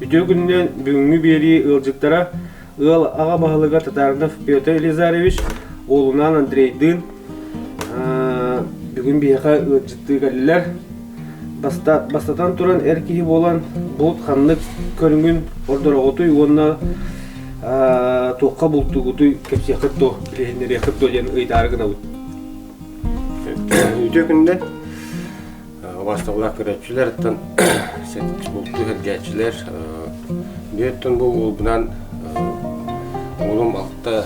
Үтүө күнүнэн бүгүҥҥү биэрии ыалдьыттара ыал аҕа баһылыга Татарнов Петр Елизарьевич, уолунаан Андрейдыын бүгүн биһиэхэ ыалдьыттыы кэллилэр. Бастатан туран, эр киһи буолан булут ханнык көрүҥүн ордороҕутуй уонна туохха бултуугутуй, кэпсиэххит дуо, билиһиннэриэххит дуо диэн ыйдаары гынабыт. Үтүө күндэн убасталлаах көрөөччүлэртэн бултуу сэргээччилэр бүөттэн бу уолбунан уолум алта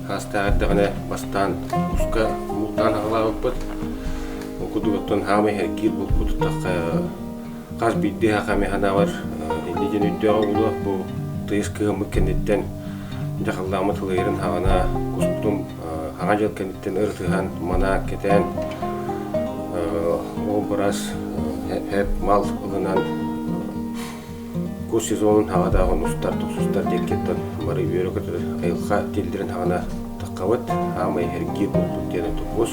саастаах эрдэҕинэ бастаан уска бултаан аҕалаабыппыт Ол курдугуттан хаамай эргиир булку тутахха хас биирдии аха эмэ санаабар инни дьин өйдөөҕө буолуо бу тыйыс кыһыммыт кэнниттэн дьахаллааммыт ылыйарын хаҕана кустум Аҕа дьыл кэнниттэн ырытыһан, манаан, кэтээн ол быраас эп мал ылынан кус сезонун хаҕатаах устар тохсустар диэкиттэн бары үөрэ көтөр айылҕа тиллэрин хаҕана таххабыт хаамай эргиир булкут диэн тобус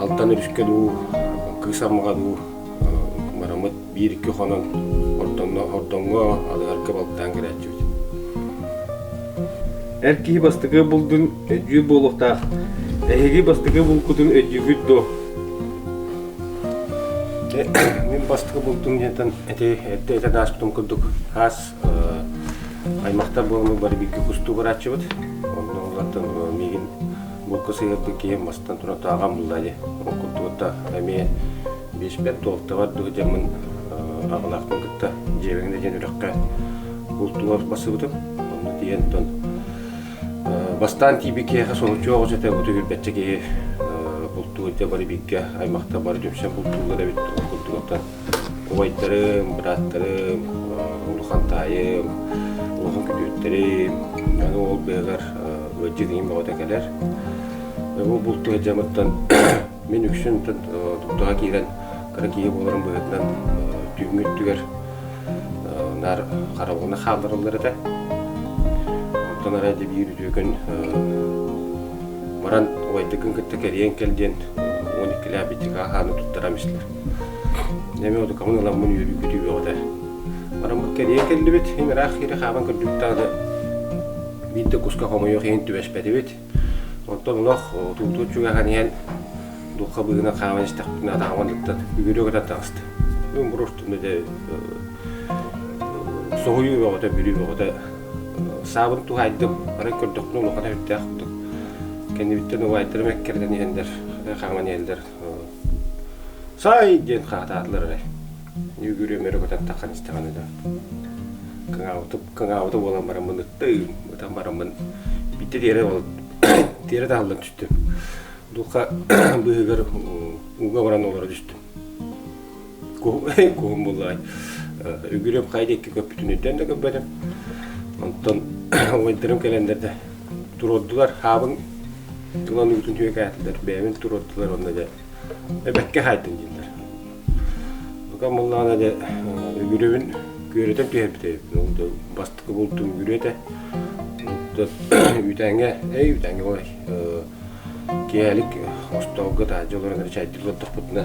Алтан өрүскэ дуу, кыыс аммаҕа дуу марамыт биир-икки хонон ордоҥҥо адыгарга балтаан кэлээччибит. Эр киһи бастакы булдун өдьүү буолуохтаах. Эһиги бастакы булкутун өдьүүгүт дуо? Мин бастакы бултум диэнтэн эти эрдэ этэ ааспытым курдук аас аймахтар буоламмыт бары бииргэ кустуу барааччыбыт. Онно улаатан миигин булка сыһыарбыт киһим мастан туран ааҕан булла дии. Ол курдугута эмиэ бииспэр туолтабар дуу дьаммын аҕалаахпын кытта дьиэбэҥ да диэн үрэххэ бултугар бассыбытым. Онно тиийэнтон бастаан тиийбит киһиэхэ соһуччу оҕус этэ бу билбэтчэ киһи бултуур да бары бииргэ аймахта бары дьүмсэн бултууллар эбит ол курдугуттан Кубайтарым, бырааттарым, улахан таайым, улахан күтүөттэрим, аны ол бэйэҕэр ыалдьытыым бөҕөтө кэлэр. Бу булту сылдьамыттан мин үксүн туттаҕа киирэн кыра киһи буоларым быһыытынан түүҥҥү өттүгэр наар хараҕына хааллараллар этэ. Оттон арай дьэ биир үтүөкэн баран убайдыкын кытта кэрийэн кэл диэн уон иккилээх бичикэ аһааны туттаран истилэр. Эмиэ утукамын ыламмын үөрүүкүтүү бөҕөтө. Бараммыт кэрийэ кэллибит, иһин ыраах хиири хааман көрдүбүттэҕинэ биирдэ куска хомойуох иһин түбэспэтибит. Оттон олох утуутуут чугаһан иһэн духха быыһынан хааман истэхпитинэ атаҕым ыллыктан үгүрүө көтөн таҕыста. Бүгүн буруостунна да соһуйуу бөҕөтө, бүрүү бөҕөтө. Саабын туһайдым, арай көрдөхпүнэ улахан өрүттээх курдук. Кэннибиттэн убайдарым эккирэтэн иһэллэр, хааман иһэллэр. сай диэн хаатаатылар эрэ нүүгүрүөм өрө көтөн таххан истэҕин да кыҥаабытым кыҥаабыта буолан баран мыныттыым ытан бараммын биттэ тиэрэ ол тиэрэ таһыллан түстүм дулха быыһыгар ууга баран олоро түстүм куһуҥай куһум буллаҕай үгүрүм хай диэки көппүтүн үрдэн да көппөтүм онтон ойдарым кэлэннэрдэ туруордулар хаабын ылан уутун түөкээтилэр бэйэбин туруордулар онно дьэ эбэккэ хаайдым дииллэр бука мыллаана дьэ үгүрүбүн күөрөтөн түһэрбит эбиппин ол да бастыкы булдум үгүрү этэ үүтээҥҥэ эй үүтээҥҥэ ой киэһэлик остоолго таажы олорон чайдык олордохпутуна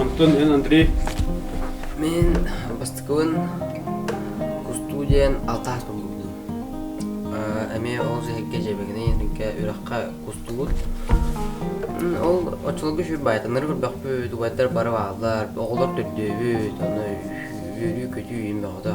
Онтон эн Андрей Мин бастакыбын кустуу диэн алтаас туллубутум. Эмиэ ол сэһэргэ дьиэбэгинэй эҥкэ үрэххэ кустуубут. Ол оччолорго үс баайтаннары көрбөхпүт, убайдар бары бааллар, оҕолор төрдөөбүт, аны үөрүү-көтүү иин бөҕөтө.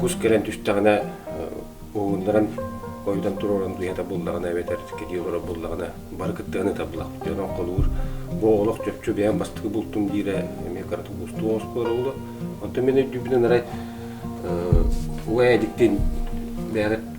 кус кэлэн түстэҕинэ уһууннаран хойутан туруоран дуйата буллаҕына эбэтэр кэлии олорор буллаҕына бары кыттыган ыта булахпыт онон холуур бу олох чопчу бэйэм бастакы бултум диирэ эмиэ кырата уустук оскуола буолуо онтон мин өйдүүбүнэн арай угай эдиктин бэйэҕит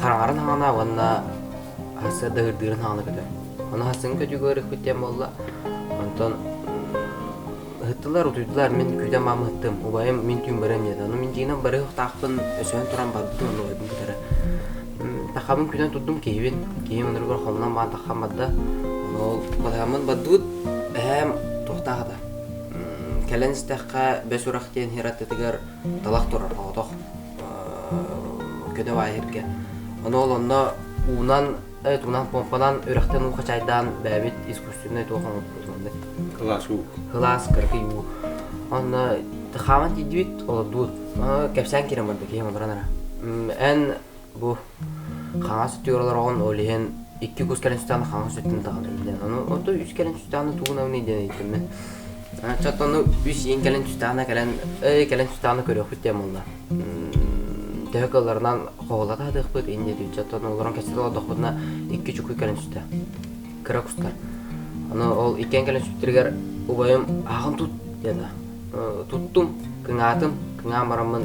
хараҥарын хаҥана уонна сырдыгырдыырын хаҥана көтөр. Ону хассыын көтүүгэ ырыппыт диэн буолла. Онтон ыһыттылар, утуйдулар. Мин күүтэн баам ыһыттым. Убайым мин түүн барыам диэтэ. Ону мин дьиэнэн барыахтаахпын өсөһөн туран барбытым, ону убайбын кытары. Тахабын күнэн турдум, киһибин. Киһим онуругар хомунан баан таххан барда. Ол батыһаммын бардыбыт, эһээм туохтаах ата. Кэлэн истэххэ, Бэс Урах диэн иһэр аттытыгар талах турар, оҕотох. көтөҕө иһиргэ оноол онно уунан эт уунан помпанан үрэхтэн уу хачайдаан бэбит искусственный туох оҥоппутунда кылаас уу кылаас кыркый уу онно хаван тиийдибит олордуут кэпсээн киремарда киһи олорон ара эн бу хаҥас өттүгэр олороҕун ол иһин икки кус кэлэн сытаан хаҥас өттүн таҕынайдын ону оту үс кэлэн сытааны тугунабыный диэн ыйыттым оччотто ону үс иин кэлэн сытаана кэлэн эй кэлэн сытааны көрүөхпүт диэн буолла төһө кылларынан хоһулата сатыахпыт инде оччотто олорон кэсэтэ олордохпутуна икки чуку кэлэн сүтэ кыра кустар аны ол иккиэн кэлэн сүттэригэр убайым аһаҕын тут диэтэ туттум кыҥаатым кыҥаан бараммын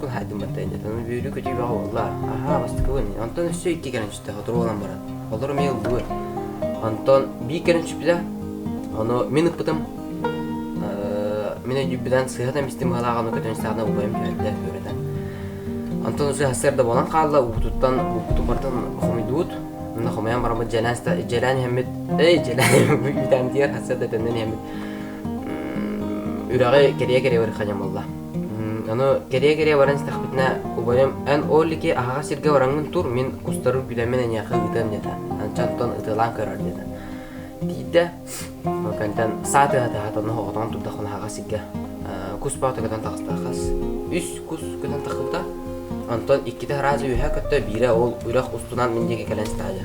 Туһаатыматынньатан бүөрү көтүүбэҕэ буоллар, аһаа бастыгын, онтон өссө икки кэрэнчитэ соторуолан баран, олор эмиэ ыллыыр. Онтон биир кэрэнчиппитэ, ону мин ыппытым, мин өйдүүппүтэн сыһатын бистим галааҕаны көтөн стаҕына убайым түһэрдэ үөрэтэн. Онтон усы хасыарда буолан хаалла, уутуттан уутутун бартын хомуйдуут. Мына хомуйан бараммыт дьэлээн дьэлээн иһэммит, эй дьэлээн иһэммит, үүтээн диир хасыарда төннөн иһэммит. Үрэҕи кэрийэ-кэрийэ барыхханьам буолла. Аны кэрийэ-кэрийэ баран истэхпитинэ, убайым «Эн ол ики аһаҕас сиргэ бараҥҥын тур, мин кустары күлэммин эйиэхэ ыытыам» диэтэ. Анчан оттон ытыалаан көрөөр диэтэ. Тиийдэ, ол кэнниттэн саа тыаһа-тыаһата онно соҕотоҕун турдахпына аһаҕас сиргэ кус боото көтөн тахста. Хас үс кус көтөн тахпыта. Онтон иккитэ араас үөһэ көттө, биирэ ол үрэх устунан мин диэки кэлэн истэҕэ дьэ.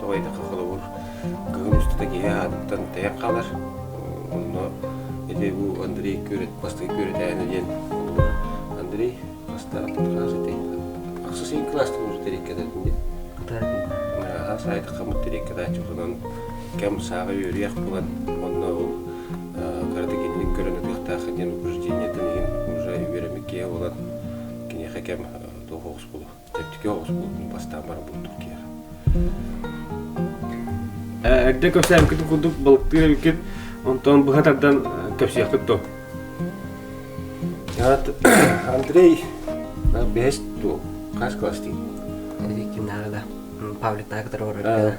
Тоҕо этэххэ, холобур, кыһын устата киһи аатыттан тэйэх хаалар. Онно ити бу Андрей Күрет, бастыҥ Күрэтээнэ диэн Андрей бастаан кылаас ити ахсыс син кылаастан терекке дэтин аха сайтахамыт терекке дааччыланан кэм сааҕа үөрүйэх булан онно ол кардигинник көрөн атыахтаах диэн упражнениетын иһин уже үөрэммиккиэ болан киниэхэ кэм тоһоҕус булу Тэттике оҕуспутун бастаан бара булдук тиер. Эрдэ көпсөөмкүт курдук балыктыыр эбиккит, онтон быһа тардан кэпсиэхпит то. Андрей бэһэс туо, хас класс тиий? Викинара, Павликтар, который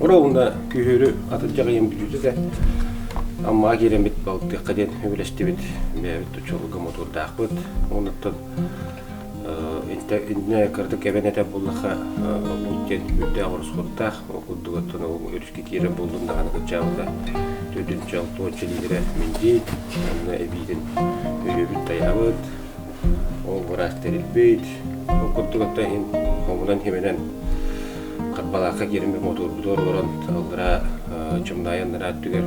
Ора уонна күһүөрү атырдьах ыйын бүтүүтэ да Аммаҕа киирэммит балтыахха диэн үбүлэстибит. Бэйэбит учуолга мотуурдаахпыт. Онуттан иннэ кыратык эбэн этэ буллахха ол диэн үрдээх ороскуоттаах ол курдугуттан ол өрүскэ киирэн буллун даҕаны кыччаабыта төрдүнче алтуонча лиитирэ миндиит онно эбиитин өйөбүт тайаабыт Ол быраас тэрилбит, ол курдук оттон иһин хомунан химэнэн Харбалаахха киирэн bir мотуорбуту олорон аллараа чымнаайан нараа өттүгэр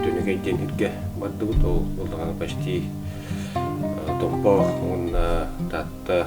Түнүкэй диэн иргэ бардыбыт. Ол улахана почти Томпоох уонна Таатта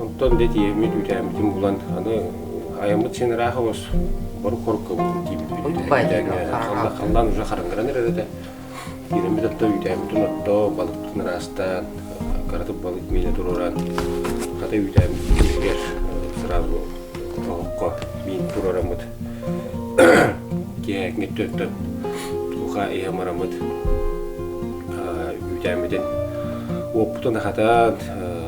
Онтон да тиэммит үүтээммитин булан аны айаммыт синераахыбыс борук хоруккабытын тииммит халлаан уже хараҥаран эрэр этэ тиирэммит отто үүтээммитин отто балыктын ыраастаан кыратык балык миинэ туруоран хата үүтээммит түмүгэр сразу олоххо миин туруораммыт киэһэкҥит төттөт туха иһамарамыт үүтээммитин уоппутун ахатан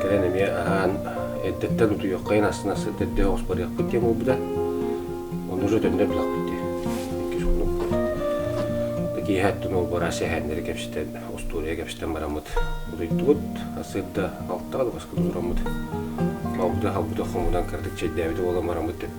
Кэлэн эмиэ аһаан, эрдэттэн утуйуоххайын астына сыт эрдэ оспоруйахпыт диэн буолбута. Ону уже төннө билэхпит диye. Иккис хонукпут. Да киэһэ аттын олбара сэһээннэри кэпсэтэн, остуоруйа кэпсэтэн бараммыт утуйдубут. Сырда алтаан баскы турураммыт. Алда халбыта хомунан кырдык чэйдээбит уолан бараммыт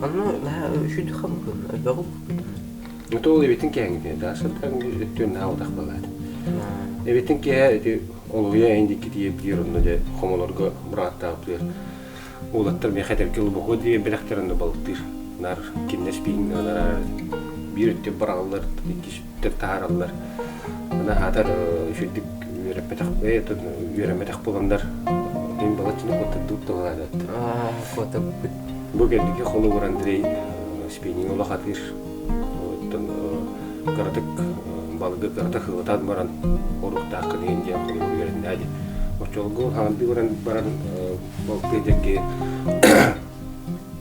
Ону наһаа үчүгэйхэ мукун, ойбоҕук. Ото ол эбитин кээҥитэ, да сыртан өттүн наһаа утах балаат. Эбитин киһэ эти олуйа эндики тиийэ биир онно да хомолорго быраттаабытыгар уулаттар миэхэ этэргэ лубоху диэн бэлэхтэр онно балыктыыр. Нар киннес пиин нараар биир өттө бараллар иккис таһаараллар аата үчүгдүк үөрэммэтэх буоланнар мин балачча куоттардыбыт туһалаата куоттарбыт бу келдиге холобур Андрей спиннинг олох атыыр кыратык балыгы кырата хылытаан баран оруктаах кыдыйын диэн холобур үөрэннээди оччолорго хаандыы баран баран балтыа дэрги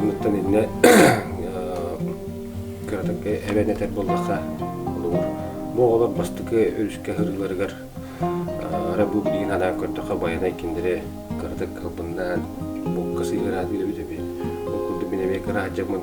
Онуттан иннэ кыратыҥкы эбэн этэр буоллахха, холобур, бу оҕолор бастакы өрүскэ сырыыларыгар ара бу билигин анаан көрдөххө байанай кинилэри кыратык кылбыннаан букка сыһыараат үлэбит эбит. Ол курдук мин эмиэ кыра сылдьаммын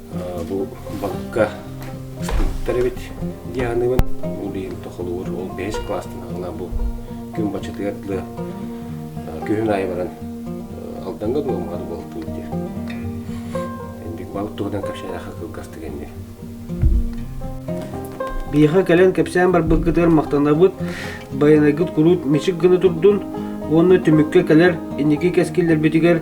Бу бакка ыспыттар эбит Дианыбын. Ол иһин тохолугур ол бэһис класстан аҕала бу күн бачытыгар дылы күһүн аайы баран Алданга дуо маар болтуун диир. Бикбабыт туһунан кэпсээнэхэ кылгастык энник. Биһиэхэ кэлэн кэпсээн барбыккытыгар махтанабыт. Байанайгыт курут мичик гына турдун уонна түмүккэ кэлэр инники кэскиллэрбитигэр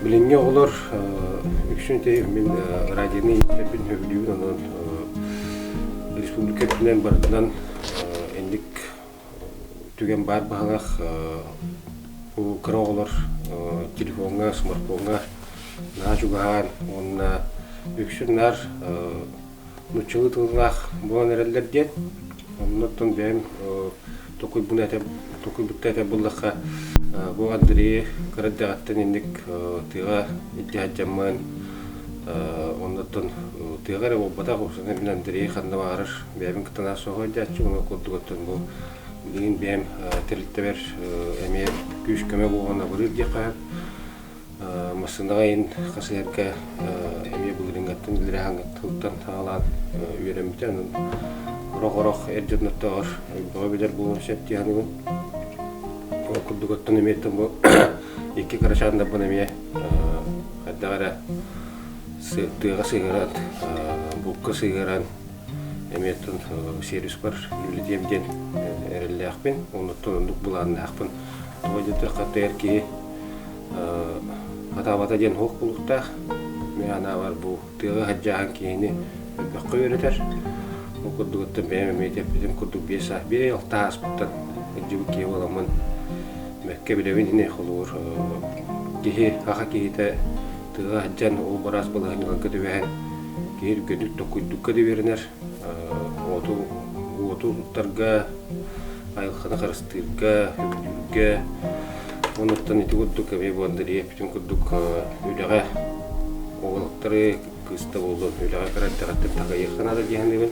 Билиҥҥи оҕолор үксүн мин радионы иитэрбин сөбүлүүбүн онон республика үрдүнэн барытынан инник түгэн баар баһылах бу кыра оҕолор телефоҥҥа смартфоҥҥа наһаа чугаһаан уонна үксүн наар нууччалыы тыллаах буолан эрэллэр диэн оннуттан бэйэм токуйбуну этэ токуйбутта этэ буллахха бу Андрей кыра эрдэҕиттэн инник тыаҕа илдьэ сылдьаммын оннуттан тыаҕа эрэ буолбатах собственно мин Андрей ханна баҕарар бэйэбин кытта наар соһуйдьааччы ону курдугуттан бу билигин бэйэм тэрилтэбэр эмиэ күүс-көмө буолан абырыыр диэххэ массыынаҕа иһин хас иһэргэ эмиэ былырыыҥҥаттан билэр аһаҥҥыттан саҕалаан үөрэммитэ аны орох-орох эр дьонноттоох бөҕө билэр буолуон сөп дии саныыбын ол курдук оттон эмиэттэн бу икки кырачаан дабын эмиэ хайдах эрэ тыаҕа сыһыаран булка сыһыаран эмиэттэн сервиспар үлэлэтиэм диэн эрэллээхпин оннуттан оннук былааннаахпын Тоҕо диэтэххэ, тыгар киһи хатаабата диэн уһук булуктаах. Анаабар бу тыаҕа хадьааһын киһини мөлтөххө үөрэтэр. Ол курдугуттан бэйэм эмиэ эппитим курдук биир саас биир ый алта ааспыттан илдьибит киһи буоламмын бэккэ билэбин ини холуур киһи аха киһитэ тыаҕа сылдьан ол быраас балаһынньаларга түбэһэн киһи үргэтик токуйдукка да үөрэнэр уоту уоту уһуктарга, айылҕаны харыстыырга, көмүлүүргэ онуттан ити курдук эмиэ буолдарыйа бүтүн курдук үлэҕэ уолуктары кыыста буоллун үлэҕэ кыра эрдэҕиттэн тагайыахха наада дии саныыбын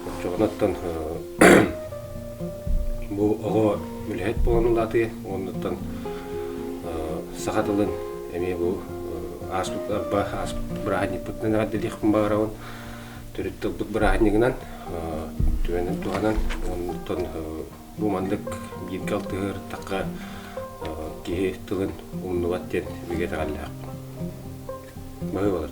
оччоҕуттан бу оҕо үлэһит буолан улаатыа оннуттан саха тылын эмиэ бу ааспыт арба ааспыт бырааһынньыкпытынан эҕэрдэлиэхпин баҕарабын төрүт тылбыт бырааһынньыгынан түгэнин туһанан онтон бу маннык бииргэ алтыһыахтаахха киһи тылын умнубат диэн бигэ итэҕэллээх баһыы болар